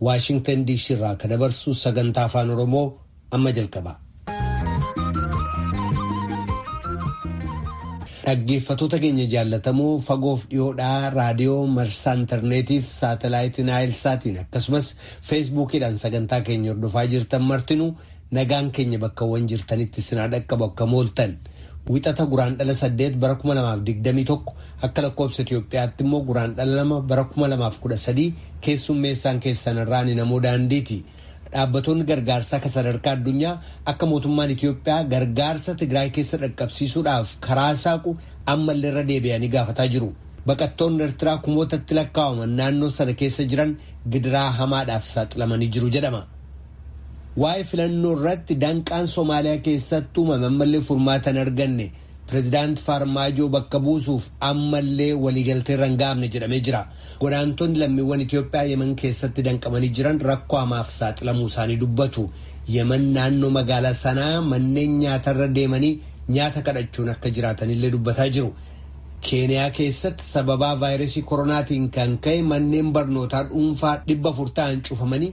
Waashingtan DC irraa ka dabarsu sagantaa afaan Oromoo amma jalqaba. Dhaggeeffatoota keenya jaallatamoo fagoof dhiyoodhaa raadiyoo marsaa intarneetiif saatalaayitiin aayilsaatiin akkasumas feesbuukiidhaan sagantaa keenya hordofaa jirtan martinuu Nagaan keenya bakkawwan jirtanitti isin haa dhaqqabu akka mooltan wixata guraan dhala 8 bara 2021 akka lakkoobsa Itoophiyaatti immoo guraan dhala 2 bara 2013 keessummeessaan keessan irraan namoo daandiiti. Dhaabbatoonni gargaarsaa akka sadarkaa addunyaa akka mootummaan Itoophiyaa gargaarsa Tigraay keessa dhaqqabsiisuudhaaf karaa saaqu ammallee irra deebi'anii gaafataa jiru. Baqattoonni Ertiraa kumootatti lakkaa'aman naannoo sana keessa jiran gidiraa hamaadhaaf saaxilamanii jiru jedhama. Waa'ee filannoo irratti danqaan Somaaliyaa keessatti uumame ammallee furmaata hin arganne. Pireezidaant Faarmaajoo bakka buusuuf ammallee waliigaltee irra hin ga'amne jedhamee jira. Godaantonni lammiiwwan Itoophiyaa Yemen keessatti danqamanii jiran rakkoo hamaaf saaxilamuu isaanii dubbatu. Yemen naannoo magaalaa Sanaa manneen nyaatarra deemanii nyaata kadhachuun akka jiraatanillee dubbataa jiru. Keeniyaa keessatti sababaa vaayirasii koronaatiin kan ka'e manneen barnootaa dhuunfaa 400 ta'an cufamanii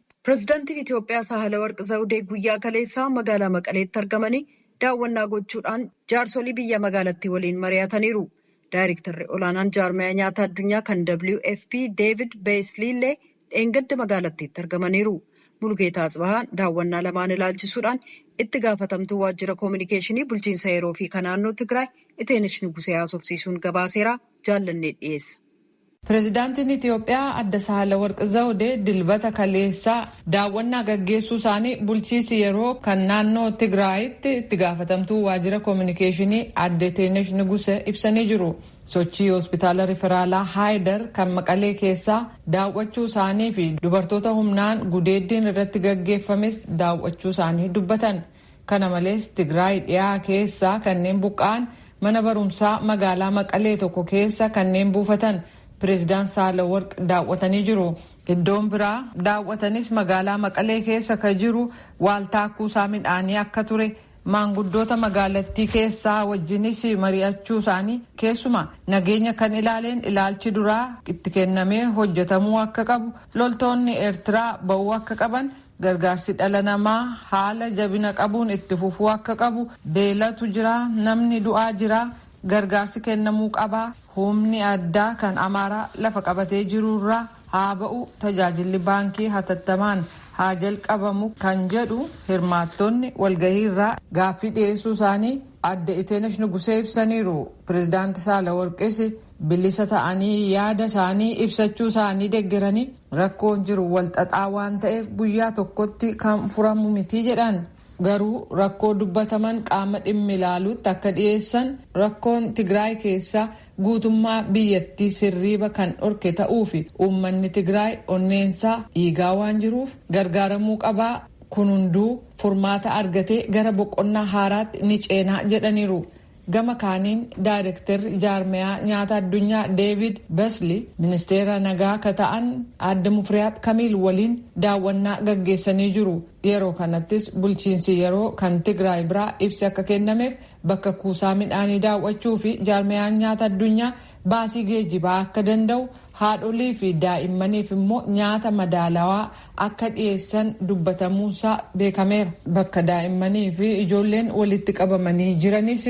Pirezidantiin Itoophiyaa Saahilawarq Zawudee guyyaa kaleessaa magaalaa Maqaleetti argamanii daawwannaa gochuudhaan jaarsolii biyya magaalattii waliin mari'ataniiru. Daayrektarri olaanaan jaarmayaa nyaata addunyaa kan WFP Deevid Beeyislii illee dheengadda magaalattiitti argamaniiru. Mulugeetaa Atsibahaa daawwannaa lamaan ilaalchisuudhaan itti gaafatamtuu waajjira koominikeeshinii bulchiinsa yeroo fi ka naannoo Tigraay Iteenesh Nugusee haasofsiisuun gabaaseera jaallannee dhiyeessa. Pirezidaantiin Itiyoophiyaa Adde Saahilawarq Zawdee Dilbata kaleessaa daawwannaa gaggeessuu isaanii bulchiisi yeroo kan naannoo Tigraayitti itti gaafatamtuu waajjira kominikeeshinii Adde Teenesh Niguse ibsanii jiru. Sochii Hospitaala Riferaalaa Haayidar kan Maqalee keessaa daawwachuu isaanii fi dubartoota humnaan gudeeddiin irratti gaggeeffames daawwachuu isaanii dubbatan. Kana malees Tigraay dhiyaa keessaa kanneen buqqa'an mana barumsaa magaalaa Maqalee tokko keessa kanneen buufatan Pireezidant Saahilawarq daawwatanii jiru. Iddoon biraa daawwatanis magaalaa Maqalee keessa ka jiru waaltaa kuusaa midhaanii akka ture, maanguddoota magaalattii keessaa wajjinis mari'achuu isaanii, keessumaa nageenya kan ilaaleen ilaalchi duraa itti kennamee hojjetamuu akka qabu, loltoonni Eertiraa ba'uu akka qaban, Gargaarsi dhala namaa haala jabina qabuun itti fufuu akka qabu, beelatu jira, namni du'aa jira, gargaarsi kennamuu qaba, humni addaa kan Amaaraa lafa qabatee jiru irraa haa ba'u, tajaajilli baankii hatattamaan haa jalqabamu kan jedhu hirmaattonni walgahii irraa gaaffii dhiyeessuu isaanii Aadde Iteenesh Nugusee ibsaniiru. Pireezidaanti Saalaworqis bilisa ta'anii yaada isaanii ibsachuu isaanii deggeranii, Rakkoon jiru walxaxaa waan ta'eef guyyaa tokkotti kan furamu miti jedhan. Garuu rakkoo dubbataman qaama dhimmi ilaaluutti akka dhiyeessan rakkoon Tigraay keessaa guutummaa biyyattiis hirriiba kan dhorke ta'uufi uummanni Tigraay onneensaa dhiigaa waan jiruuf gargaaramuu qabaa kun hunduu furmaata argatee gara boqonnaa haaraatti ni ceenaa jedhaniiru. Gama kaaniin daayrekterri jaarmayaa nyaata addunyaa Deevid Besli ministeera nagaa ka ta'an aadde Mufriyaat Kamiil waliin daawwannaa gaggeessanii jiru. Yeroo kanattis bulchiinsi yeroo kan Tigraay biraa ibsi akka kennameef bakka kuusaa midhaanii daaw'achuu fi jaarmayaan nyaata addunyaa baasii geejibaa akka danda'u haadholii fi daa'immaniif immoo nyaata madaalawaa akka dhiyeessan dubbatamuunsaa beekameera. Bakka daa'immanii fi ijoolleen walitti qabamanii jiranis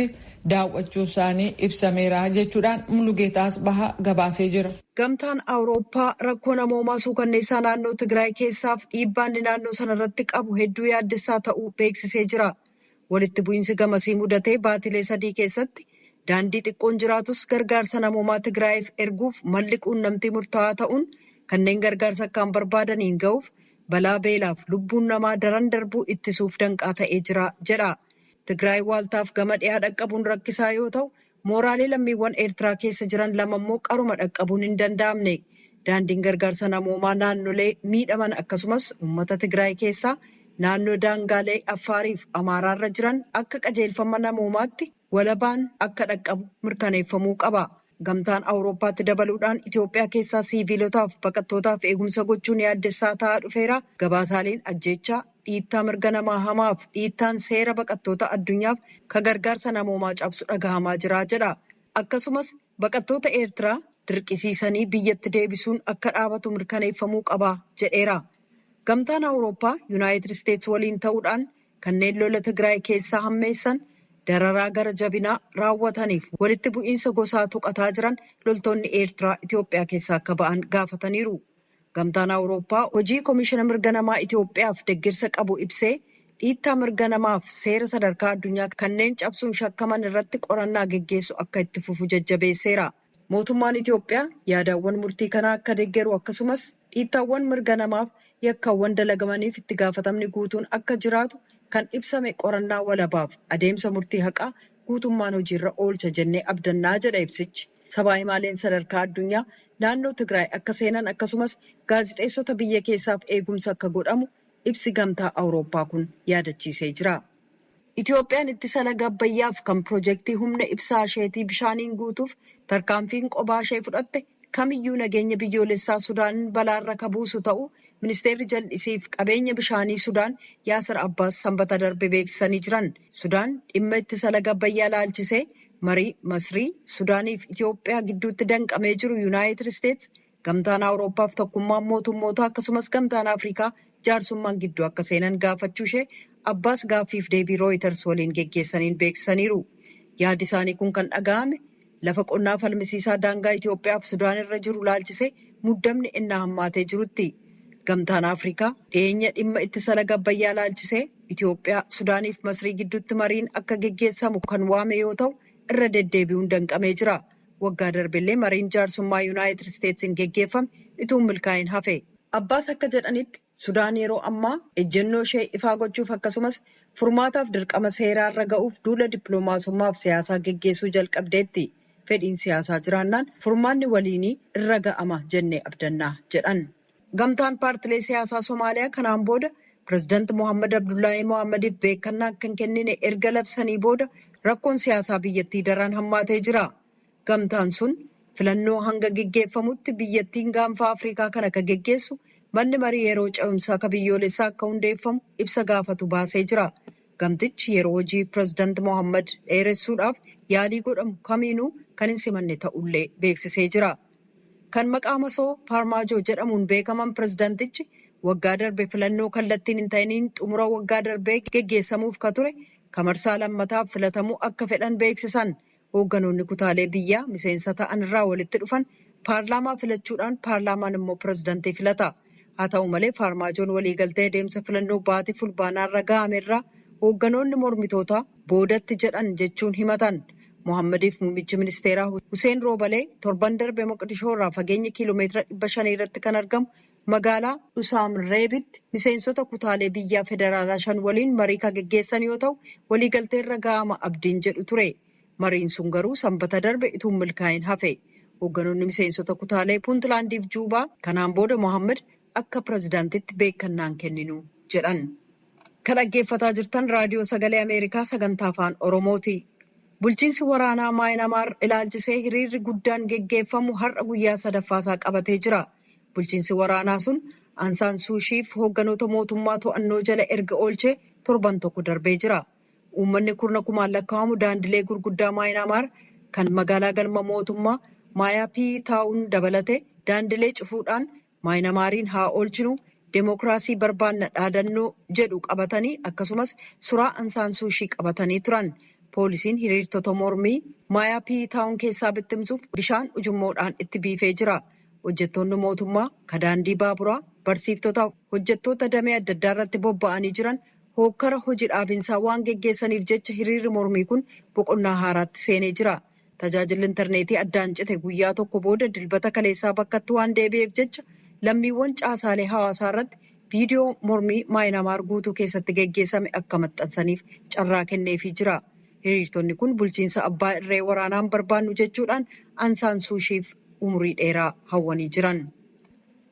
daawwachuunsaanii ibsameera jechuudhaan Mulugeetaa Asbahaa gabaasee jira. Gamtaan Awurooppaa rakkoo namoomaa suukanneessaa naannoo Tigraay keessaaf dhiibbaan inni naannoo sanarratti qabu hedduu yaaddessaa ta'uu beeksisee jira. Walitti bu'iinsi gamasii mudatee baatilee sadii keessatti daandii xiqqoon jiraatus gargaarsa namoomaa Tigraayiif erguuf malli quunnamtii murtaa'aa ta'uun kanneen gargaarsa akkaan barbaadaniin ga'uuf balaa beelaaf lubbuun namaa daran darbuu ittisuuf danqaa ta'ee jira jedha. Tigraay waaltaaf gama dhiyaa dhaqqabuun rakkisaa yoo ta'u, Mooraalee lammiiwwan Eertiraa keessa jiran lama immoo qaruma dhaqqabuun hin danda'amne. Daandiin gargaarsa namoomaa naannolee miidhaman akkasumas uummata Tigraay keessaa naannoo daangaalee Affaarii fi Amaaraarra jiran akka qajeelfama namoomaatti walabaan akka dhaqqabu mirkaneeffamuu qaba. Gamtaan Awurooppaatti dabaluudhaan Itoophiyaa keessaa siiviilotaaf baqattootaaf eegumsa gochuun yaaddessaa ta'aa dhufeera, gabaasaaleen ajjeechaa, dhiittaa mirga namaa hamaaf dhiittaan seera baqattoota addunyaaf ka gargaarsa namoomaa cabsu dhagahamaa jira jedha. Akkasumas baqattoota Eertiraa dirqisiisanii biyyatti deebisuun akka dhaabatu mirkaneeffamuu qaba jedheera. Gamtaan Awurooppaa Yunaayitid Isteets waliin ta'uudhaan kanneen lola Tigraay keessaa hammeessan, dararaa gara jabinaa raawwataniif walitti bu'iinsa gosaa tuqataa jiran loltoonni Eertiraa Itoophiyaa keessaa akka ba'an gaafataniiru. Gamtaan Awurooppaa hojii Komishina Mirga Namaa Itoophiyaaf deggersa qabu ibsee, dhiittaa mirga namaaf seera sadarkaa addunyaa kanneen cabsuun shakkaman irratti qorannaa geggeessu akka itti fufu jajjabeesseera. Mootummaan Itoophiyaa yaadaawwan murtii kanaa akka deggeru akkasumas dhiittaawwan mirga namaaf yakkawwan dalagamaniif itti gaafatamni guutuun akka jiraatu kan ibsame qorannaa walabaaf adeemsa murtii haqaa guutummaan hojiirra oolcha jennee abdannaa jedha ibsichi. Sabaa himaaleen sadarkaa addunyaa naannoo Tigraay akka seenan akkasumas gaazixeessota biyya keessaaf eegumsi akka godhamu ibsi Gamtaa Awurooppaa kun yaadachiisee jira. Itoophiyaan ittisa laga Abbayyaaf kan pirojektii humna ibsaa isheetii bishaaniin guutuuf tarkaanfiin qobaa ishee fudhatte kamiyyuu nageenya biyyoolessaa Sudaanin balaarra ka buusu ta'uu Ministeerri Jal'isiif Qabeenya Bishaanii Sudaan Yaasir Abbaas Sambata darbe beeksisanii jiran. Sudaan dhimma ittisa laga Abbayyaa laalchisee Marii Masrii, Sudaanii fi Itiyoophiyaa gidduutti danqamee jiru Yunaayitid Isteets, Gamtaan Awurooppaa fi Tokkummaan Mootummootaa akkasumas Gamtaan Afrikaa jaarsummaan gidduu akka seenan gaafachuu ishee Abbaas gaaffiif deebii Rooyiters waliin geggeessaniin beeksisaniiru. Yaadi isaanii kun kan dhaga'ame lafa qonnaa falmisiisaa daangaa Itiyoophiyaa fi Sudaan irra jiru ilaalchisee muddamni ennaa hammaatee jirutti. Gamtaan Afrikaa dhiyeenya dhimma ittisa laga Abbayyaa ilaalchisee, Itoophiyaa, Sudaaniif Masrii gidduutti mariin akka geggeessamu kan waame yoo ta'u, irra deddeebi'uun danqamee jira. Waggaa darbellee mariin jaarsummaa Yunaayitid Isteetsiin geggeeffame utuu hin milkaa'iin hafe. Abbaas akka jedhanitti, Sudaan yeroo ammaa ejjennoo ishee ifaa gochuuf akkasumas furmaataaf dirqama seeraa irra ga'uuf duula dippilomaasummaaf siyaasaa geggeessuu jalqabdeetti. Fedhiin siyaasaa jiraannaan furmaanni waliinii irra ga'ama jennee abdanna, jedhan. Gamtaan paartilee siyaasaa Somaaliyaa kanaan booda Pireezidanti Mohaammad Abdullaahii Mohaammadiif beekkannaa akka hin kennine erga labsanii booda rakkoon siyaasaa biyyattii daran hammaatee jira. Gamtaan sun filannoo hanga geggeeffamutti biyyattiin gaanfaa Afriikaa kana ka geggeessu manni marii yeroo ce'umsaa ka biyyoolessaa akka hundeeffamu ibsa gaafatu baasee jira. Gamtichi yeroo hojii Pireezidanti Mohaammad dheeressuudhaaf yaalii godhamu kamiinuu kan hin simanne ta'ullee beeksisee jira. Kan maqaa masoo Paarmaajoo jedhamuun beekaman pirezidantichi waggaa darbe filannoo kallattiin hin ta'iniin xumura waggaa darbee geggeessamuuf ka ture ka marsaa lammataaf filatamuu akka fedhan beeksisan. Hoogganoonni kutaalee biyyaa miseensa ta'an irraa walitti dhufan paarlaamaa filachuudhaan paarlaamaan immoo pirezidantii filata. Haa ta'u malee Faarmaajoon waliigaltee adeemsa filannoo baatii Fulbaanaarra ga'ame irraa hoogganoonni mormitootaa boodatti jedhan jechuun himatan. Mohaammadiif muummichi ministeeraa Huseen Roobalee torban darbe Moqdishoo irraa fageenya kiilomeetira 500 irratti kan argamu magaalaa Dhusaamirreebitti miseensota kutaalee biyyaa federaalaa shan waliin marii kan geggeessan yoo ta'u, waliigalteerra ga'ama abdiin jedhu ture. Mariin sun garuu Sanbata darbe utuu hin milkaa'in hafe. Hoogganoonni miseensota kutaalee Puuntlaandiif Juubaa kanaan booda Mohaammad akka pirezidantitti beekkannaa hin kenninu jedhan. Ka dhaggeeffataa jirtan Raadiyoo Sagalee Ameerikaa Sagantaa Afaan Oromooti. Bulchiinsi waraanaa Maayinamaar ilaalchisee hiriirri guddaan geggeeffamu har'a guyyaa sadaffaasaa qabatee jira. Bulchiinsi waraanaa sun Ansaan Suushiif hoogganoota mootummaa to'annoo jala erga oolchee torban tokko darbee jira. Uummanni kurna kumaan lakkaa'amu daandilee gurguddaa Maayinaamaar kan magaalaa galma mootummaa Maayaapii Taawun dabalatee daandilee cufuudhaan Maayinamaariin haa oolchinu, demookraasii barbaanna dhaadannoo jedhu qabatanii akkasumas suraa Ansaan Suushii qabatanii turan. Poolisiin hiriirtota mormii Maayaapii Taawun keessaa bittimsuuf bishaan ujummoodhaan itti biifee jira. Hojjettoonni mootummaa, ka daandii baaburaa, barsiiftotaa fi hojjettoota damee adda addaa irratti bobba'anii jiran hookkara hoji dhaabinsaa waan geggeessaniif jecha hiriirri mormii kun boqonnaa haaraatti seenee jira. Tajaajilli interneetii addaan cite guyyaa tokko booda Dilbata kaleessaa bakkatti waan deebi'eef jecha lammiiwwan caasaalee hawaasaa irratti viidiyoo mormii Maayinaamaar guutuu keessatti geggeessame akka maxxansaniif carraa kenneefii jira. Hiriirtonni kun bulchiinsa abbaa irree waraanaan barbaannu jechuudhaan An Saan Suushiif umurii dheeraa hawwanii jiran.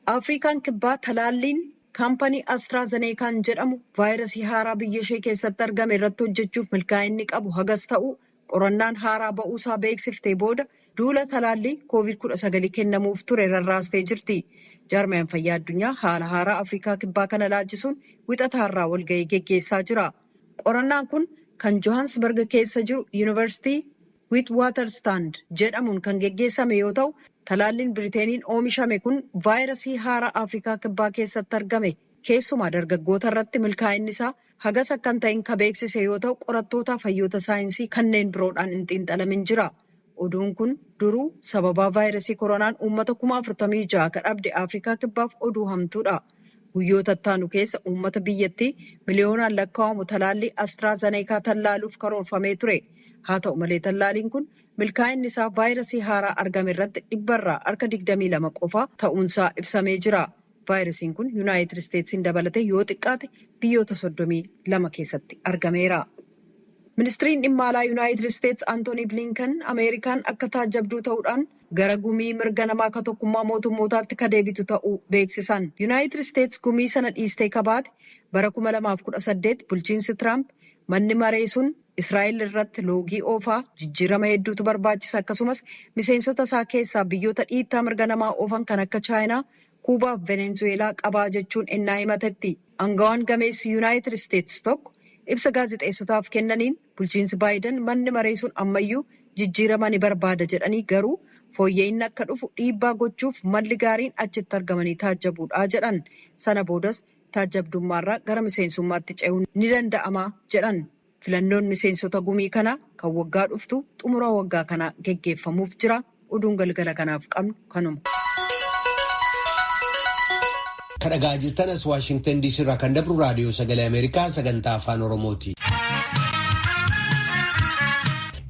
Afriikaan Kibbaa talaalliin Kaampanii Astraa Zeneekaan jedhamu vaayirasii haaraa biyya ishee keessatti argame irratti hojjechuuf milkaa'inni qabu hagas ta'uu qorannaan haaraa ba'uu isaa beeksiftee booda duula talaallii koovid 19 kennamuuf ture rarraastee jirti. Jaarmayaan Fayyaa Addunyaa haala haaraa Afrikaa Kibbaa kana ilaalchisuun wixata har'aa walga'ii geggeessaa jira. Qorannaan kun kan Johaansbarg keessa jiru Yunivarsiitii Witwatersrand jedhamuun kan geggeessame yoo ta'u, talaalliin Biriteeniin oomishame kun vaayirasii haaraa Afrikaa Kibbaa keessatti argame keessumaa dargaggoota irratti milkaa'inni isaa hagas akka hin ta'in ka beeksise yoo ta'u qorattootaaf hayyoota saayinsii kanneen biroodhaan hin xiinxalamin jira. Oduun kun duruu sababaa vaayirasii koronaan uummata kuma 46 ka dhabde Afrikaa Kibbaaf oduu hamtuudha. Guyyoota ittaanu keessa uummata biyyattii miliyoonaan lakkaa'amu talaallii Astraa Zaneekaa tallaaluuf karoorfamee ture. Haa ta'u malee tallaaliin kun milkaa'inni isaa vaayirasii haaraa argame irratti dhibba irraa harka 22 qofaa ta'uunsaa ibsamee jira. Vaayirasiin kun Yunaayitid Isteetsiin dabalatee yoo xiqqaate biyyoota 32 keessatti argameera. Ministriin Dhimma Alaa Yunaayitid Isteets Antoonii Bliinkan Ameerikaan akka taajjabduu ta'uudhaan gara gumii mirga namaa ka tokkummaa mootummootaatti ka deebitu ta'uu beeksisan. Yunaayitid Isteets gumii sana dhiistee ka baate bara 2018 bulchiinsi Tiraamp manni maree sun Israa'el irratti loogii oofaa jijjiirama hedduutu barbaachisa akkasumas miseensota isaa keessaa biyyoota dhiittaa mirga namaa oofan kan akka Chaayinaa, Kuubaa fi Venenzuweelaa qabaa jechuun ennaa himatetti. Angawaan gameessi Yunaayitid Isteets tokko ibsa gaazexeessotaaf kennaniin, Bulchiinsi Baayidan manni maree sun ammayyuu jijjiirama ni barbaada jedhanii garuu fooyya'inni akka dhufu dhiibbaa gochuuf malli gaariin achitti argamanii taajjabuudha jedhan. Sana boodas taajjabdummaarraa gara miseensummaatti ce'uun ni danda'ama jedhan. Filannoon miseensota gumii kanaa kan waggaa dhuftuu xumura waggaa kanaa geggeeffamuuf jira. Oduun galgala kanaaf qabnu kanuma. Kan dhagaa jirtan as Waashingtan DC irraa kan dabru raadiyoo sagalee Ameerikaa sagantaa afaan Oromooti.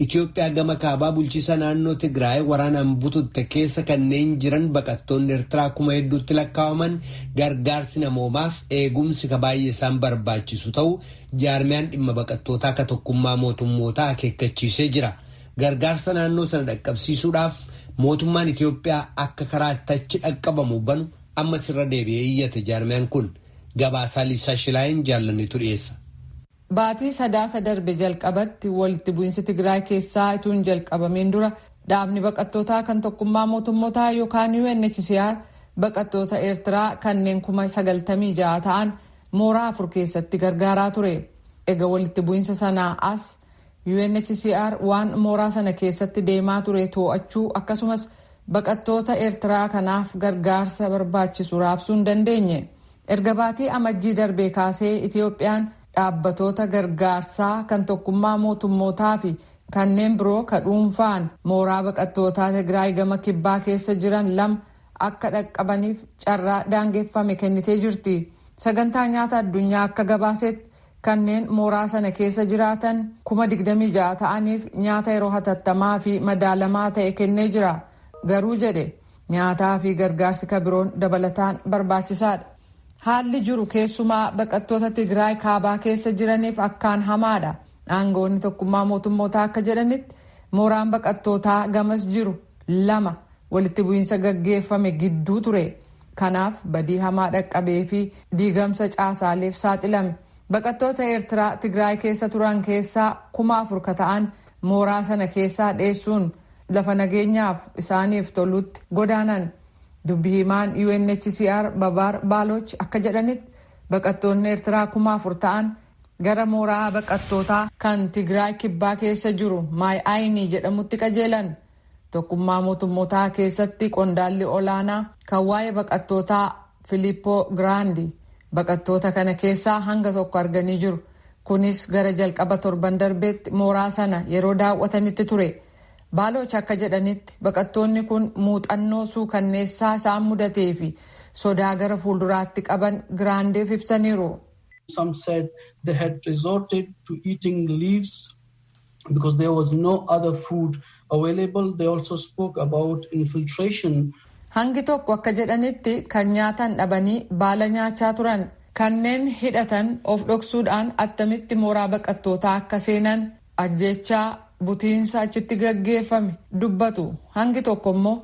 Itoophiyaa gama kaabaa bulchiisa naannoo Tigraay waraanaan bututte keessa kanneen jiran baqattoonni Eertiraa kuma hedduutti lakkaa'aman gargaarsi namoomaaf eegumsi ka baay'ee isaan barbaachisu ta'uu jaarmiyaan dhimma baqattootaa ka tokkummaa mootummootaa akeekkachiisee jira. Gargaarsa naannoo sana dhaqqabsiisuudhaaf mootummaan Itiyoophiyaa akka karaa itti achi dhaqqabamu banu ammas irra deebi'ee iyyate jaarmiyaan kun gabaasaa Liisaa Shilaayin jaallannetu dhiyeessa. Baatii Sadaasa darbe jalqabatti walitti bu'insi Tigraay keessaa ituu hin jalqabamiin dura dhaabni baqattootaa kan tokkummaa mootummotaa yookaan UNHCR baqattoota Eertiraa kanneen kuma 96 ta'an mooraa afur keessatti gargaaraa ture. Ega walitti bu'insa sanaa as UNHCR waan mooraa sana keessatti deemaa ture too'achuu akkasumas baqattoota Ertiraa kanaaf gargaarsa barbaachisu raabsuu hin dandeenye. Erga baatii Amajjii darbee kaasee Itiyoophiyaan dhaabbatoota gargaarsaa kan tokkummaa mootummootaa fi kanneen biroo ka dhuunfaan mooraa baqattootaa Tigraay gama kibbaa keessa jiran lama akka dhaqqabaniif carraa daangeffame kennitee jirti. Sagantaa Nyaata Addunyaa akka gabaasetti Kanneen mooraa sana keessa jiraatan kuma 26 ta'aniif nyaata yeroo hatattamaa fi madaalamaa ta'e kennee jira. Garuu jedhe nyaataa fi gargaarsi ka biroon dabalataan barbaachisaadha. Haalli jiru keessumaa baqattoota Tigraay kaabaa keessa jiraniif akkaan hamaadha. Aangawoonni tokkummaa mootummootaa akka jedhanitti mooraan baqattootaa gamas jiru lama walitti bu'iinsa gaggeeffame gidduu ture. Kanaaf badii hamaa dhaqqabee fi diigamsa caasaaleef saaxilame. Baqattoota Eertiraa Tigraay keessa turan keessaa kuma afur ka ta'an mooraa sana keessaa dheessuun lafa nageenyaaf isaaniif tolutti godaanan. Dubbi himaan UNHCR Babaar Baaloch akka jedhanitti baqattoonni Eertiraa kuma afur ta'an gara mooraa baqattootaa kan Tigraay kibbaa keessa jiru Maay Ayinii jedhamutti qajeelan. Tokkummaa Mootummotaa keessatti qondaalli olaanaa kan waa'ee baqattootaa Filiippoo Giraandi baqattoota kana keessaa hanga tokko arganii jiru. Kunis gara jalqaba torban darbeetti mooraa sana yeroo daawwatanitti ture. Baalooch akka jedhanitti baqattoonni kun muuxannoo suukanneessaa isaan mudatee fi sodaa gara fuulduraatti qaban Giraandiif ibsaniiru. Some said they had resorted to eating leaves because there was no other food available. They also spoke about infiltration. Hangi tokko akka jedhanitti kan nyaatan dhabanii baala nyaachaa turan. Kanneen hidhatan of dhoksuudhaan attamitti mooraa baqattootaa akka seenan ajjeechaa butiinsa achitti gaggeeffame dubbatu. Hangi tokko immoo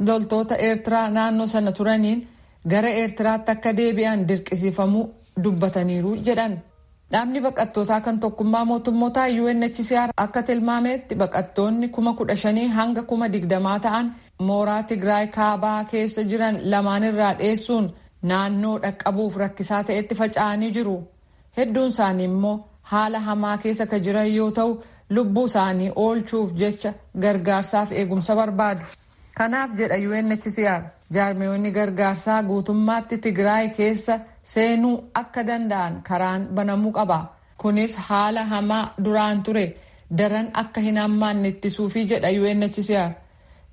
loltoota Eertiraa naannoo sana turaniin gara Eertiraatti akka deebi'an dirqisiifamuu dubbataniiru jedhan. Dhaabni baqattootaa kan tokkummaa mootummotaa UNHCR akka tilmaameetti baqattoonni kuma kudha shanii hanga kuma digdamaa ta'an mooraa Tigraay kaabaa keessa jiran lamaan irraa dheessuun naannoo dhaqqabuuf rakkisaa ta'etti faca'anii jiru. Hedduun isaanii immoo haala hamaa keessa ka jiran yoo ta'u lubbuu isaanii oolchuuf jecha gargaarsaaf eegumsa barbaadu. Kanaaf jedha UNHCR jaarmiyoonni gargaarsaa guutummaatti Tigraay keessa seenuu akka danda'an karaan banamuu qaba. Kunis haala hamaa duraan ture daran akka hin hammaanne ittisuufi jedha UNHCR.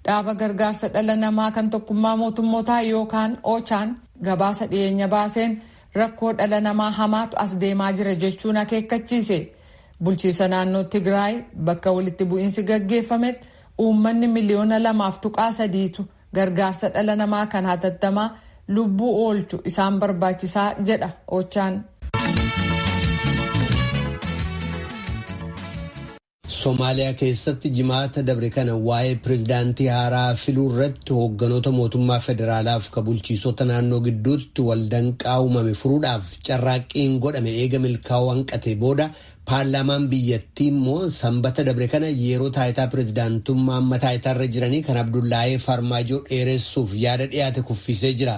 Dhaaba gargaarsa dhala namaa kan tokkummaa mootummootaa yookaan Ochaan gabaasa dhiyeenya baaseen rakkoo dhala namaa hamaatu as deemaa jira jechuun akeekkachiise. Bulchiisa naannoo Tigraay bakka walitti bu'iinsi gaggeeffametti Uummanni miliyoona lamaaf tuqaa sadiitu gargaarsa dhala namaa kan hatattamaa lubbuu oolchu isaan barbaachisaa jedha Ochaan. Somaaliyaa keessatti jimaata dabre kana waa'ee pirezidaantii haaraa filuu irratti hoogganoota mootummaa federaalaa fi bulchiisota naannoo gidduutti waldanqaa uumame furuudhaaf carraaqqiin godhame eega milkaa'uu hanqatee booda Paarlaamaan biyyattii immoo Sambata dabre kana yeroo taayitaa pirezidaantummaa amma taayitaarra jiranii kan Abdullaahee Farmaajoo dheeressuuf yaada dhiyaate kuffiisee jira.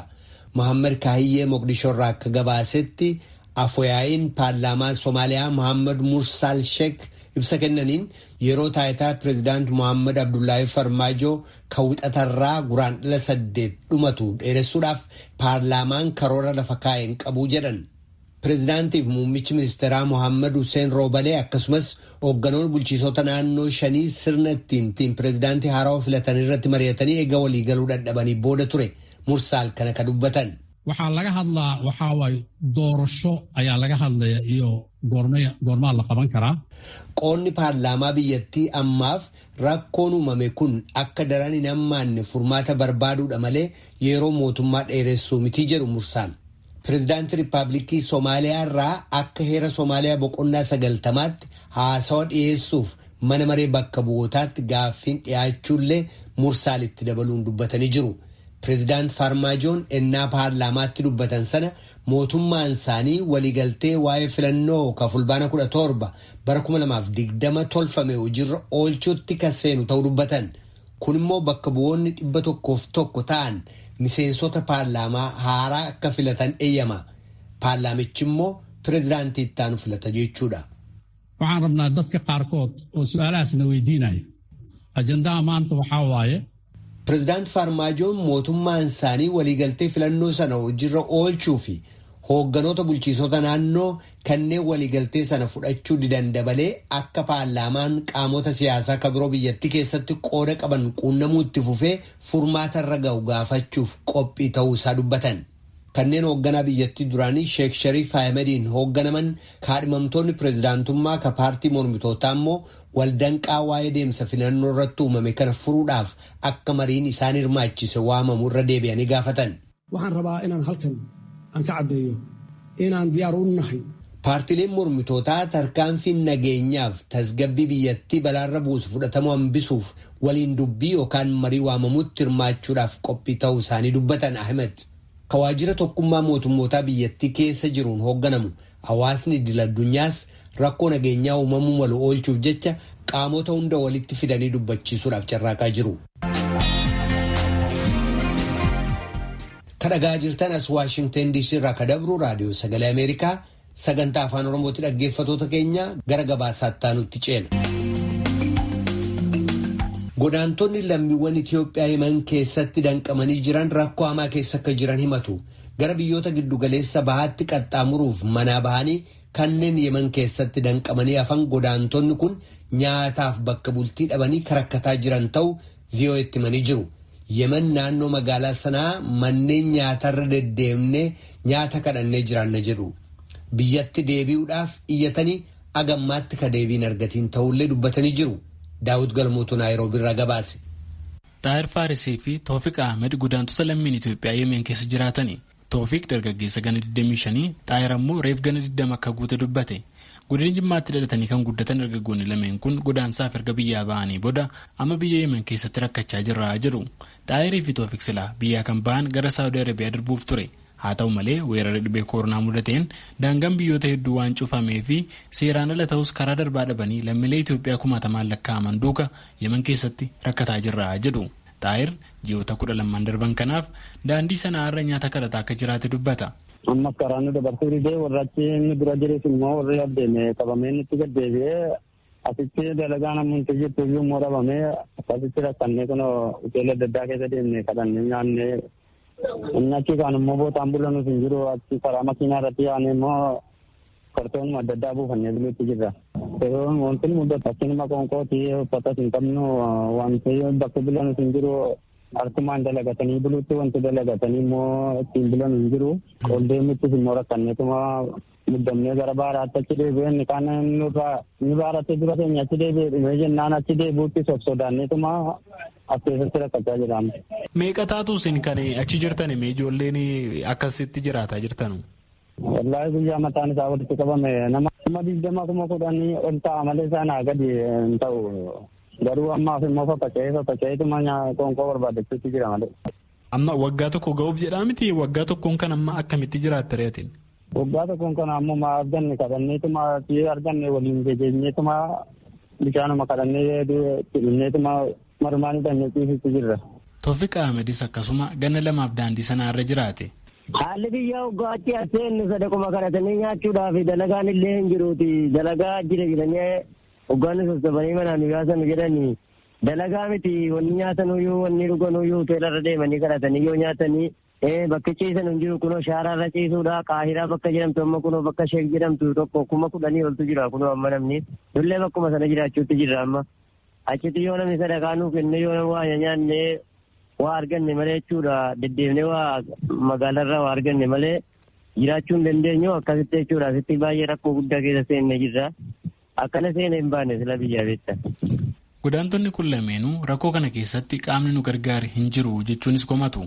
Mohaammed Kaahiyyee Moqdishoorraa akka gabaasetti Afoyaa'iin paarlaamaa Somaaliyaa Mohaammed Mursaal Sheek ibsa kennaniin yeroo taayitaa pirezidaant Mohaammed Abdullaahee Farmaajoo kan wixatarraa Guraandhala saddeet dhumatu dheeressuudhaaf paarlaamaan karoora lafa kaa'e hin qabu jedhan. Pireezidaantiif muummichi ministeeraa Mohaammad Hussein Roobalee akkasumas hoogganoon bulchiisota naannoo shanii sirna ittiin ittiin pireezidaantii haarawa filatan irratti mari'atanii ega walii galuu dhadhabanii booda ture Mursaal kana ka dubbatan. Waxaa laga hadlaa waxaa waay doorasho ayaa laga hadlaya iyo goormaa la qaban karaa. Qoonni paarlaamaa biyyattii ammaaf rakkoon uumame kun akka daran hin hammaanne furmaata barbaaduudha malee yeroo mootummaa dheeressuu miti jedhu Mursaal. Pirezidaantii Rippaabliikii Somaaliyaa irraa akka heera Somaaliyaa boqonnaa sagaltamaatti haasawa dhiyeessuuf mana maree bakka bu'ootaatti gaaffiin dhiyaachuullee Mursaal itti dabaluun dubbatanii jiru. Pirezidaant Faarmaajoon ennaa paarlaamaatti dubbatan sana mootummaan isaanii waliigaltee waa'ee filannoo ka fulbaana 17 bara 2020 tolfame hojiirra oolchuutti ka seenu ta'uu dubbatan. Kun immoo bakka bu'oonni 101 ta'an miseensota paarlaamaa haaraa akka filatan eyyama. Paarlaamichi immoo pirezidaantii itti aanu filata jechuudha. Waxaan rabnaa dadka qaarkood oo su'aalahaas na weydiinaya. Ajandaha maanta waxaa waaye. Pirezidaant Faarmaajoon mootummaan isaanii waliigaltee filannoo sana hojirra oolchuu fi hoogganoota bulchiisota naannoo kanneen waliigaltee sana fudhachuu didan dabalee akka paarlaamaan qaamota siyaasaa ka biroo biyyattii keessatti qooda qaban quunnamuu itti fufee furmaata irra ga'u gaafachuuf qophii ta'uu isaa dubbatan. Kanneen hoogganaa biyyattii duraanii Sheek Shariif Ahimadiin hoogganaman kaadhimamtoonni pirezidaantummaa ka paartii mormitootaa immoo waldanqaa waa'ee deemsa filannoo irratti uumame kana furuudhaaf akka mariin isaan hirmaachise waamamu irra deebi'anii gaafatan. Waxaan rabaa inaan halkan aan ka caddeeyo inaan diyaar u nahay. Paartileen mormitootaa tarkaanfiin nageenyaaf tasgabbii biyyattii balaarra buusu fudhatamuu hambisuuf waliin dubbii yookaan marii waamamutti hirmaachuudhaaf qophii ta'uu isaanii dubbatan Ahimed. Ka waajjira tokkummaa mootummootaa biyyattii keessa jiruun hoogganamu Hawaasni idil addunyaas rakkoo nageenyaa uumamuu malu oolchuuf jecha qaamota hunda walitti fidanii dubbachiisuudhaaf carraaqaa jiru. Kan dhagaa jirtan as Waashingteen DC irraa kan dabru raadiyoo sagalee Ameerikaa sagantaa afaan Oromootti dhaggeeffatoota keenya gara gabaasaatti aanutti ceena. Godaantonni lammiiwwan Itoophiyaa himan keessatti danqamanii jiran rakkoo hamaa keessa akka jiran himatu. gara biyyoota giddugaleessa bahaatti qaxxaamuruuf manaa bahanii kanneen Yemen keessatti danqamanii hafan godaantonni kun nyaataaf bakka bultii dhabanii karakkataa jiran ta'u VOA'tti himanii jiru. Yemen naannoo magaalaa sanaa manneen nyaatarra deddeemnee nyaata kadhannee jiraanna jedhu. Biyyatti deebi'uudhaaf iyyatanii agammaatti ka deebiin argatiin ta'ullee dubbatanii jiru. Daawit Galmootu Naayiroobiirraa gabaase. Xaahir Faarisii fi Toofiq Ahmed godaantota lammiin Itoophiyaa Yemeen keessa jiraatani. Toofiq dargaggeessa gana 25, Xaahir ammoo reef gana 20 akka guute dubbate. Godina Jimmaatti dhalatanii kan guddatan dargaggoonni lameen kun godaansaaf erga biyyaa ba'anii booda amma biyya Yemen keessatti rakkachaa jirra jedhu. Xaahirii fi Toofiq silaa biyyaa kan bahan gara Saawudii Arabiyaa darbuuf ture. Haa ta'u malee weerara dhibee kooronaa mudateen daangaan biyyoota hedduu waan cufamee fi seeraan ala ta'us karaa darbaa dhabanii lammiilee Itoophiyaa kumaatamaan lakkaa'aman duuka Yemen keessatti rakkataa jirra jedhu. Xaahir ji'oota kudha lamman darban kanaaf daandii Sana'aarra nyaata kadhataa akka jiraate dubbata. Ammas karaa nu dabarsuu didee warra achi nu dura jirus immoo warri as deeme qabamee nutti gad deebi'ee Asitti dalagaan amma nuti jirtu iyyuu immoo dhabamee akkasitti rakkannee kun hoteela adda addaa keessa deemnee kadhannee nyaannee inni achi kaan immoo bootaan bulanus hin jiru achi karaa makiinaa irratti yaanee immoo kartoonuma adda addaa buufannee buluutti jirra. Yeroon wanti mudatu akkanuma qoonqooti uffatas hin qabnu wanti bakka bulanus hin jiru harkumaan dalagatanii buluutti wanti dalagatanii immoo ittiin bulan hin jiru. Ol deemittis immoo rakkanneetuma Muddamnee gara baaraatti achi deebi'ee inni kaan nurraa inni baaraatti dura keenya achi deebi'ee dhumee jennaan achi deebi'utti sossodaanneetuma as keessatti rakkachaa jiraam. Meeqa taatu isin kan achi jirtan mee ijoolleen akkasitti jiraataa jirtanu? Wallaahi guyyaa mataan isaa walitti qabame nama kuma digdama kuma kudhanii ol ta'a malee sanaa gadi hin ta'u. Garuu ammaaf immoo faffaca'ee faffaca'eetuma qoonqoo barbaadachuutti jira malee. Amma waggaa tokko ga'uuf jedhaa miti waggaa tokkoon kan amma akkamitti jiraatta reetiin? Waggaa tokkoon kana ammoo maa arganne kadhanneetuma si'ee arganne waliin gegeenyeetuma bishaanuma kadhannee itti dhumneetuma marumaan hidhanne ciisitti jirra. Toofiq Ahmedis akkasuma ganna lamaaf daandii sanaa irra jiraate. Haalli biyya waggaa achi as seenne sadaquma kadhatanii nyaachuudhaaf dalagaan illee hin jiruuti. Dalagaa jira jedhanii waggaan sassaabanii manaan nu yaasan jedhanii dalagaa miti wanni nyaatanuyyuu wanni dhuganuyyuu hoteelarra deemanii kadhatanii yoo nyaatanii Ee bakki ciisan hin jiru kunoo shaaraa irra ciisuudha qaahiraa bakka jedhamtu amma kunoo bakka sheek jedhamtu tokko kuma kudhanii oltu jira kunoo amma namni dullee bakkuma sana jiraachuutti jirra amma achitti yoo namni sadaqaa nuu kenne yoo namni waa nyaanne waa arganne malee jechuudha deddeemne waa magaalarraa waa arganne malee jiraachuu hin dandeenyu akkasitti jechuudha asitti baay'ee rakkoo guddaa keessa seenne jirra Akkana seena hin baane sila biyyaa beekta. Godaantonni kun lameenuu rakkoo kana keessatti qaamni nu gargaare hin jiru jechuunis komatu.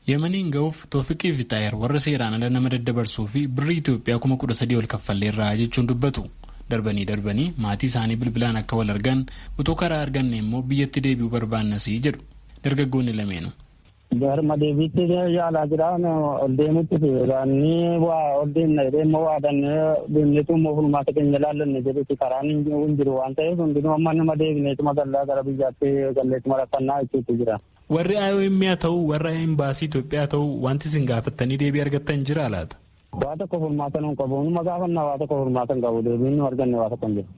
Yemaniin ga'uuf Toofiqii fi Xaayir warra seeraan ala nama daddabarsuu fi birrii Itoophiyaa kuma kudha sadii ol kaffalleerra jechuun dubbatu. Darbanii darbanii maatii isaanii bilbilaan akka wal argan utuu karaa arganne immoo biyyatti deebi'uu barbaannasii jedhu dargaggoonni lameenu. Garma deebiitti yaalaa jira. Ol deemutti baannee waa ol deemna jedhee immoo waa dannee deemneetu immoo fulmaata keenya ilaallanne jedhuti karaan hin jiru waan ta'eef hundinuu amma nama deebineetuma gallaa gara biyyaatti galleetuma rakkannaa jechuutu jira. Warri IOM haa ta'u warra imbaasii Itoophiyaa ta'u wanti isin gaafattanii deebii argattan jira laata? Waa tokko furmaata nuun qabu. Numa gaafanna waa tokko furmaata hin qabu. Deebiin nu arganne waa tokko hin jiru.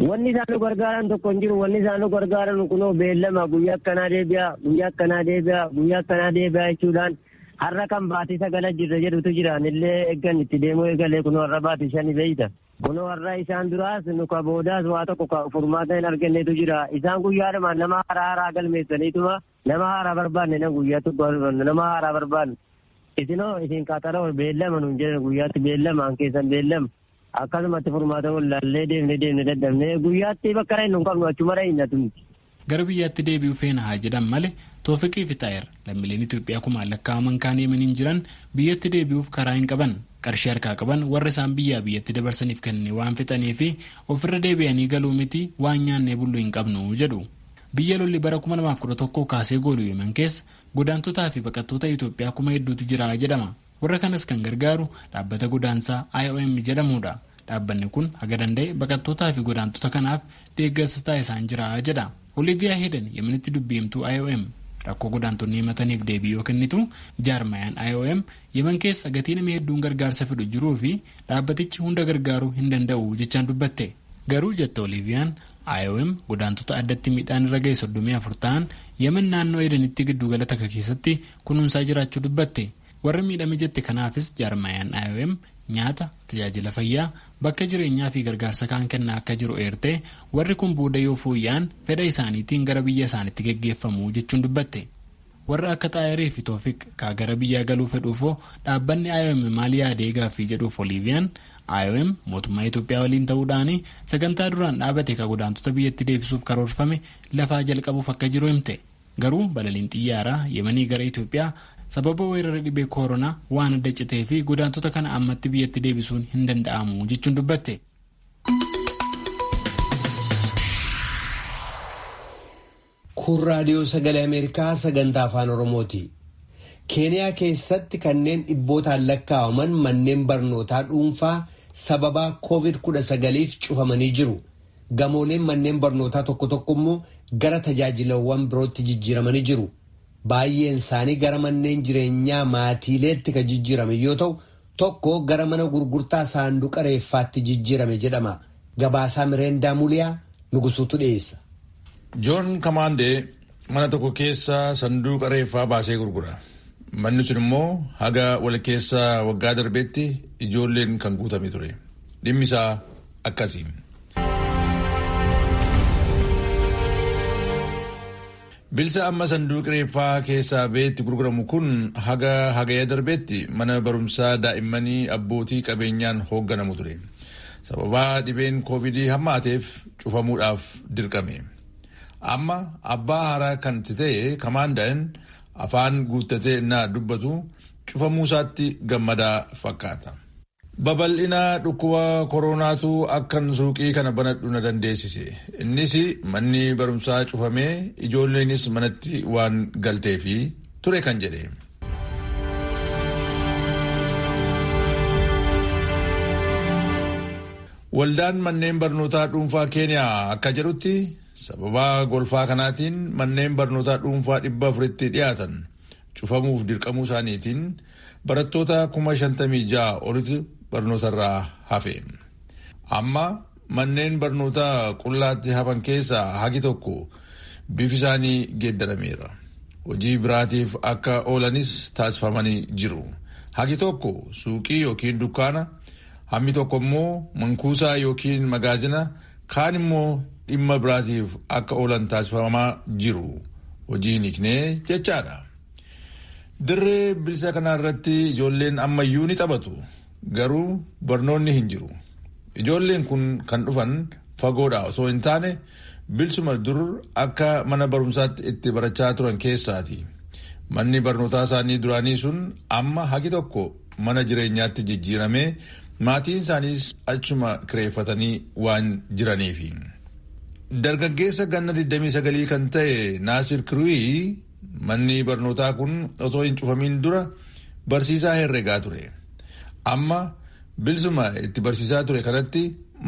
Wanni isaan nu gargaaran tokko hin jiru. Wanni isaan nu gargaaran kunoo beellama guyyaa akkanaa deebi'a, guyyaa akkanaa deebi'a, guyyaa akkanaa deebi'a jechuudhaan har'a kan baatii sagala jirra jedhutu jira. Anillee eeggan itti deemuu eegalee kunoo har'a baatii shani beeyta. Kunoo har'a isaan duraas nu ka boodaas waa tokko ka furmaata hin argannetu jira. Isaan guyyaadhuma nama haaraa haaraa galmeessaniituma Nama haaraa barbaanne nan guyyaa tokko waan hubannu nama haaraa barbaanne isinoo isin qaxaroo beellama nuun jedhan guyyaatti beellama an keessan beellama akkasumatti furmaata wallaallee deemne deemne dadhabne guyyaatti bakka dhaynu hin qabnu achuma dhayna tumti. Gara biyyaatti deebi'uu feena haa jedhan malee Toofiqii fi Xaayir lammiileen Itoophiyaa kumaan lakkaa'aman kaan Yemeniin jiran biyyatti deebi'uuf karaa hin qaban qarshii harkaa qaban warra isaan biyyaa biyyatti dabarsaniif kenne waan fixanii fi ofirra deebi'anii galuu miti waan nyaannee bullu hin qabnu jedhu. Biyya lolli bara 2011 kaasee goolu Yemen keessa godaantotaa fi baqattoota Itoophiyaa kuma hedduutu jira jedhama. Warra kanas kan gargaaru dhaabbata godaansaa IOM jedhamuudha. Dhaabbanni kun haga danda'e baqattootaa fi godaantota kanaaf deeggarsa taasisaan jira jedha. Oliiviyaa Heedan Yemenitti dubbi himtuu IOM rakkoo godaantonni himataniif deebii yoo kennitu jaarmayaan IOM Yemen keessa gatii nama hedduun gargaarsa fedhu jiruu fi dhaabbatichi hunda gargaaruu hin danda'u jechaan dubbatte. Garuu jette Oliiviyaan IOM godaantota addatti miidhaan irra ga'e 34 ta'an Yemen naannoo Edenitti giddugala takka keessatti kunuunsaa jiraachuu dubbatte. Warra miidhame jette kanaafis jaarmayaan IOM nyaata, tajaajila fayyaa, bakka jireenyaa fi gargaarsa kaan kennaa akka jiru eertee warri kun booda yoo fooyya'an fedha isaaniitiin gara biyya isaanitti geggeeffamu jechuun dubbatte. Warra akka Xaayirii fi Toofiq kaa gara biyyaa galuu fedhuufoo dhaabbanni IOM maal yaadee gaaffii jedhuuf Oliiviyaan, IOM mootummaa Itoophiyaa waliin ta'uu dhaani sagantaa duraan dhaabate ka godaantota biyyatti deebisuuf karoorfame lafaa jalqabuuf akka jiru himte. Garuu balaliin xiyyaaraa Yemanii gara Itoophiyaa sababa weerara dhibee kooronaa waan adda citee fi godaantota kana ammatti biyyatti deebisuun hin danda'amu jechuun dubbatte. Kun raadiyoo sagalee Ameerikaa sagantaa afaan Oromooti. Keeniyaa keessatti kanneen dhibbootaan lakkaa'aman manneen barnootaa dhuunfaa sababaa COVID-19f cufamanii jiru. Gamooleen manneen barnootaa tokko tokko immoo gara tajaajilawwan birootti jijjiiramanii jiru. Baay'een isaanii gara manneen jireenyaa maatiileetti kan jijjiiraman yoo ta'u, tokko gara mana gurgurtaa saanduqa reeffaatti jijjiirame jedhama. Gabaasaa Mireendaa Muliyaa Nugusuutu dhiyeessa. Joon Kamaandee mana tokko keessa sanduuqa reeffaa baasee gurgura. Manni sun immoo haga walkeessa waggaa darbeetti ijoolleen kan guutame ture. Dhimmi isaa akkasi. Bilsa amma sanduuqi reeffaa keessaa ba'ee itti gurguramu kun haga Hagaya darbeetti mana barumsaa daa'immanii abbootii qabeenyaan hoogganamu ture. Sababaa dhibeen koovidii hammaateef cufamuudhaaf dirqame. Amma abbaa haaraa kan itti ta'e Kamaandaan afaan guuttatee innaa dubbatu cufamuusaatti gammadaa fakkaata. Babal'ina dhukkuba koroonaatu akkan suuqii kana banadhu na dandeessise. Innis manni barumsaa cufamee ijoolleenis manatti waan galteefi ture kan jedhe. Waldaan manneen barnootaa dhuunfaa Keeniyaa akka jedhutti sababaa golfaa kanaatiin manneen barnootaa dhuunfaa dhibba afuritti dhiyaatan cufamuuf dirqamuu isaaniitiin Barattoota kuma shantamii ja'a olitu barnootarraa hafe. Amma manneen barnootaa qullaatti hafan keessaa hagi tokko bifi isaanii geeddarameera. Hojii biraatiif akka oolanis taasifamanii jiru. Hagi tokko suuqii yookiin dukkaana, hammi tokko immoo mankuusaa yookiin magaazina, kaan immoo dhimma biraatiif akka oolan taasifamaa jiru. Hojii hin hiiknee jechaadha. Dirree bilisa kana irratti ijoolleen ammayyuu ni taphatu. Garuu barnoonni hin jiru. Ijoolleen kun kan dhufan fagoodhaa osoo hin taane bilsuma dur akka mana barumsaatti itti barachaa turan keessaati. Manni barnootaa isaanii duraanii sun amma hagi tokko mana jireenyaatti jijjiiramee maatiin isaaniis achuma kireeffatanii waan jiraniifi. Dargaggeessa ganna 29 kan ta'e Naasir Kiruuyi Manni barnootaa kun otoo hin cufamiin dura barsiisaa herregaa ture. Amma bilsuma itti barsiisaa ture kanatti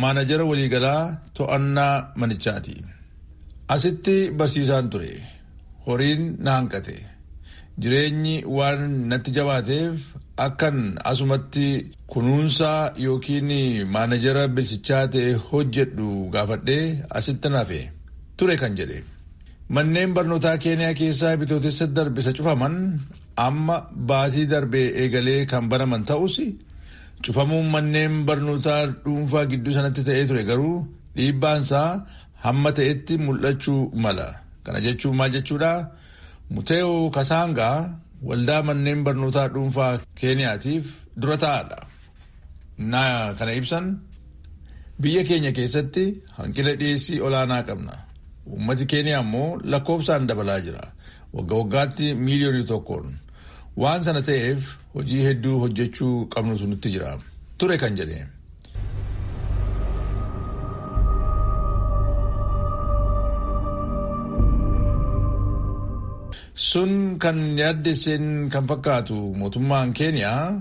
maanajara waliigalaa to'annaa manichaati. Asitti barsiisaan ture. Horiin na hanqate. Jireenyi waan natti jabaateef akkan asumatti kunuunsaa yookiin maanajara bilsichaa ta'e hojjedhu gaafadhee asitti nafe ture kan jedhe. Manneen barnootaa Keeniyaa keessaa Bitootessa darbe isa cufaman amma baatii darbe eegalee kan banaman ta'us cufamuun manneen barnootaa dhuunfaa gidduu sanatti ta'ee ture garuu dhiibbaansaa hamma ta'etti mul'achuu mala. Kana jechuun maal jechuudha? Muteeyoo Kasaangaa waldaa manneen barnootaa dhuunfaa Keeniyaatiif dura taa'aadha. Naa kana ibsan biyya keenya keessatti hanqina dhiyeessii olaanaa qabna. Uummati Keeniyaa immoo lakkoofsaan dabalaa jira. Wagga waggaatti miiliyoonii tokkoon. Waan sana ta'eef hojii hedduu hojjechuu qabnutu nutti jira. Ture kan jedhe. Sun kan yaaddesseen kan fakkaatu mootummaan Keeniyaa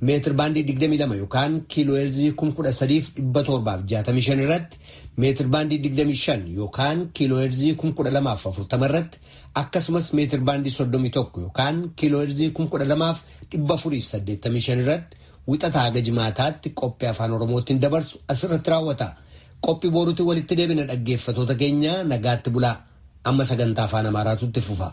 meetir baandii 22 yookaan kiilooheerzii 13,765 irratti meetir baandii 25 yookaan kiilooheerzii 12,040 irratti akkasumas meetir baandii 31 yookaan kiilooheerzii 12,485 irratti wixataa haga jimaataatti qophii afaan oromootiin dabarsu asirratti raawwata. Qophii booruutiin walitti deebina dhaggeeffatoota keenya nagaatti bulaa amma sagantaa afaan amaaraatu itti fufa.